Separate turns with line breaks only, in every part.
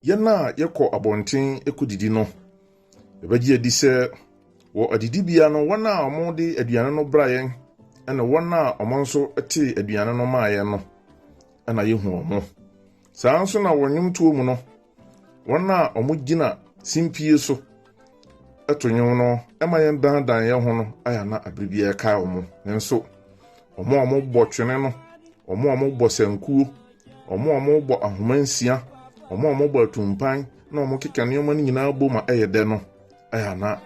Yɛn a yɛkɔ abɔnten kodidi no, yɛbɛgye adi sɛ wɔ adidibea no, wɔn a wɔde aduane no bra yɛn ne wɔn a wɔn nso tee aduane no maa yɛn no na yehu wɔn. Saa nso na wɔ nnwomtoɔ mu no, wɔn a wɔgyina simpie so to nnwom no ma yɛn dandan yɛn ho no ayɛ na abere biara kae wɔn. Nanso wɔn a wɔbɔ twene no, wɔn a wɔbɔ sankuo, Wɔn a wɔbɔ ahoma nsia, wɔn a wɔbɔ atumpan na wɔkeka nneɛma no nyinaa bɔ ma ɛyɛ dɛ no, ɛyɛ a na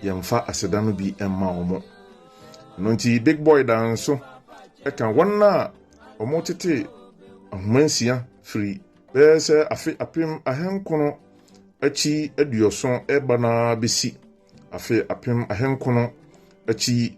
yɛmfa aseda no bi mma wɔn. Ɛno nti Big Boy daa nso ɛka wɔn a wɔtete ahoma nsia firi bɛyɛ sɛ afe apem ahenkono akyi aduɔson ɛba no ara bɛsi afe apem ahenkono akyi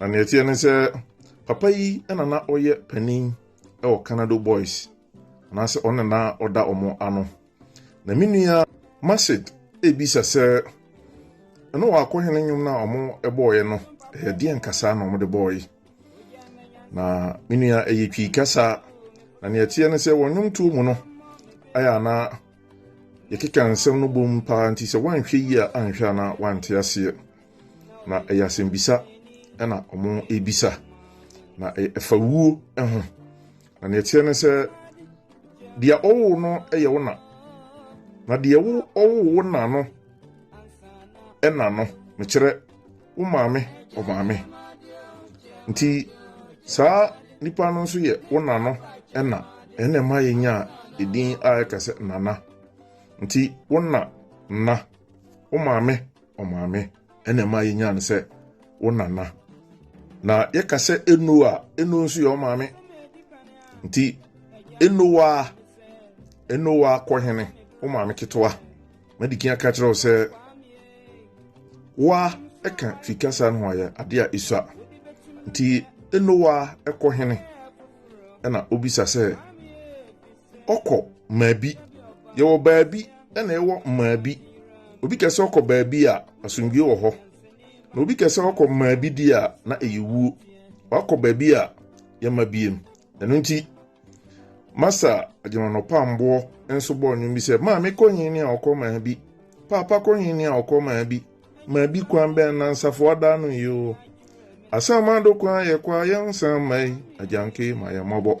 Na nea ɛteɛ ne sɛ papa yi na na ɔyɛ panin wɔ Canado Boys anaasɛ ɔno na ɔda wɔn ano. Na me nua Masid ebisa sɛ ɛno wakɔ hene nnwom no a wɔbɔɔeɛ no ɛyɛ deɛ nkasa na wɔde bɔɔe. Na me nua ɛyɛ twi kasa na nea ɛteɛ ne sɛ wɔn nnwomtoɔ mu no ayɛ ana yɛkeka nsɛm no bom paa nti sɛ woanhwɛ yie a anhwɛ ana wante aseɛ. Na ɛyɛ asɛmbisa na wɔrebisa, na ɛfa wuo ho. Na deɛ ɛteɛ ne sɛ, deɛ ɔwoo no yɛ wo na, na deɛ wo ɔwoo wo na no na no, mekyerɛ wo maame ɔmaame. Nti saa nipa no nso yɛ wo na no na, ɛna ɛma yɛnya edin a ɛka sɛ nana. Nti wo na nna, wo maame Ɔmaame ɛna ɛma yɛnyaa no sɛ wo nana. Na yɛka sɛ eno a, eno nso yɛ ɔmaame. Nti enowa enowa kɔhene wo maame ketewa. Madikin aka kyerɛ wo sɛ wa ɛka fikasa no ho ayɛ adeɛ a esua. Nti enowa ɛkɔhene ɛna obisa sɛ ɔkɔ maabi. Yɛwɔ baabi na yɛwɔ maabi. Obi kɛ sɛ ɔkɔ baabi a, asomdwoe wɔ hɔ. Na obi kɛ sɛ ɔkɔ maabi deɛ a, na ɛyɛ wuo. Wakɔ baabi a yɛmma biem. Ɛno nti, Masa Agyeman Ɔpamboɔ nso bɔɔ nnwom bi sɛ, Maame kɔ nyini a ɔkɔ maabi, Paapa kɔ nyini a ɔkɔ maabi, Maabi kwan bɛn na nsafoa da ano yi o? Asamado kwan yɛkɔ a yɛnsan mma yi, Agyanke ma yɛn mmɔbɔ.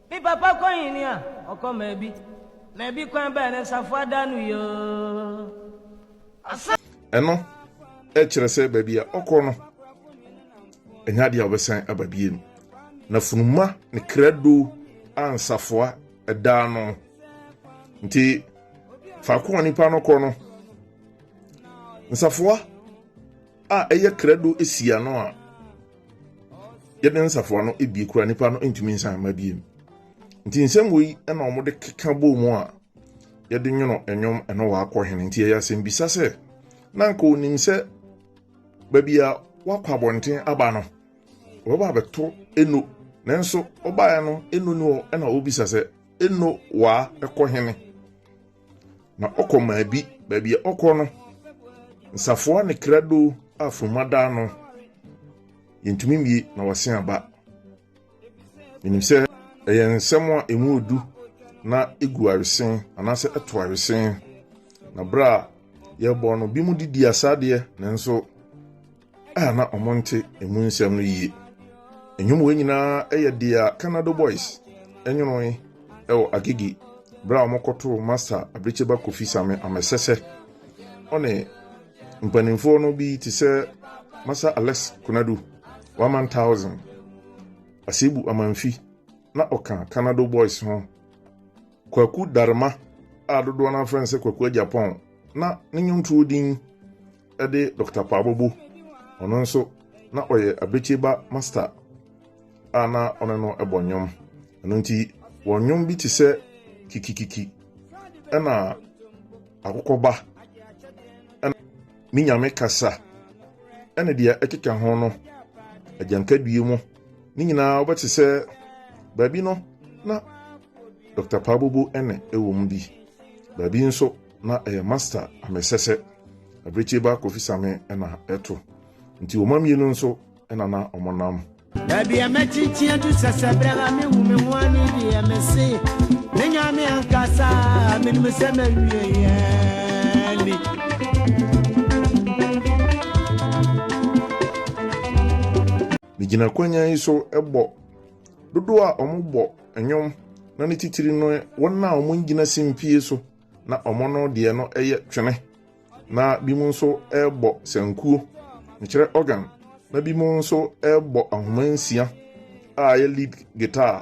Me papa kɔ nhini a ɔkɔ maabi maabi kwan bɛɛ ne nsa foa da no yoo. Ɛno kyerɛ sɛ baabi a ɔkɔ no ɛnyɛ adeɛ a ɔbɛsan aba biem. Na funuma ne krado a nsafoa ɛdaa no nti faako a nipa no kɔ no nsafoa a ɛyɛ krado si ano a yɛde nsafoa no bie kura nipa no ntumi nsan mma biem nti nsɛm wei na wɔde keka bɔɔ mu a yɛde nwono nnwom ɛno wakɔ hene nti ɛyɛ asɛmbisa sɛ na nka onim sɛ baabi a wakɔ abɔnten aba no ɔbɛba abɛto eno nanso ɔbaeɛ no eno ni hɔ ɛna ɔbisa sɛ eno waa ɛkɔ hene Na ɔkɔ maa bi, baabi a ɔkɔ no, nsafoa ne krado a funu adaa no, yɛntumi mmie na wɔasen aba. Menim sɛ ɛyɛ nsɛm a ɛmu odu na ɛgu awesen anaasɛ ɛto awesen. Na berɛ a yɛbɔ no, bi mu de di asadeɛ nanso a na wɔnte emu nsɛm no yie. Nnwom wei nyinaa yɛ deɛ Canado Boys nwonoe wɔ Agege berɛ a wɔkɔtoo Master Abirikyeba Kofi Same Amesese. Ɔne mpanimfoɔ no bi te sɛ Master Alex Konadu, One Man Thousand, Asebu Amanfi na ɔka Canado Boys ho. Kwaku Darema a dodoɔ no afrɛ no sɛ Kwaku Agyapɔn na ne nnwontoɔ din de Dɔkta Paa Bobo, ɔno nso na ɔyɛ Abrekyeba Masta a na ɔne no bɔ nnwom. Ɛno nti, wɔn nnwom bi te sɛ Kikikiki ɛna Akokɔba ɛna Me Nyame Kasa ɛne deɛ ɛkeka ho no, Agyankadue mu, ne nyinaa wobɛte sɛ baabi no na Dɔkta Paa Bobo ɛne ɛwɔ mu bi, baabi nso. na ɛyɛ master amesɛsɛ abirekyie ba kofi same ɛna ɛto nti wɔn mmienu nso ɛna na wɔn nam. baabi a mɛkyinkyin atu sɛsɛ berɛ a mehu me ho ani deɛ mese me nyame ankasa menim sɛ mawieɛ ni megyina kwanya yi so bɔ dodoɔ a wɔbɔ nnwom na ne titiri no wɔn a wɔn gyina simpie so Na wɔn no deɛ no yɛ twene, na binom nso bɔ sankuo, mekyerɛ organ, na binom nso bɔ ahoma nsia a ɛyɛ lead guitar,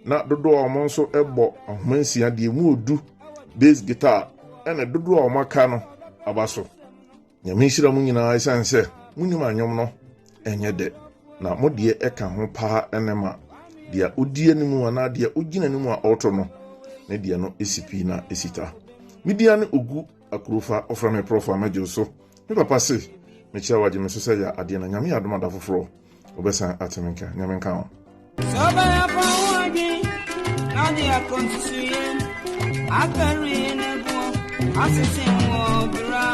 na dodoɔ a wɔn nso bɔ ahoma nsia deɛ mu ɔdu bass guitar, ɛna dodoɔ a wɔaka no aba so. Nyame nhyira mo nyinaa ɛsiane sɛ monim anwom no ɛnyɛ dɛ na mo deɛ ɛka ho paa ɛne ma deɛ odi anim anaa deɛ ogyina anim a ɔreto no ne deɛ no esi pii na esi ta media ne ogu akurofa ɔfrɛ me prɔfa mɛgye so me papa se mekyia wagye me so sɛ yɛ adeɛ na nyame adom ada foforɔ ɔbɛsan atene nka nyame nka ho Akari ne bu asese wo bra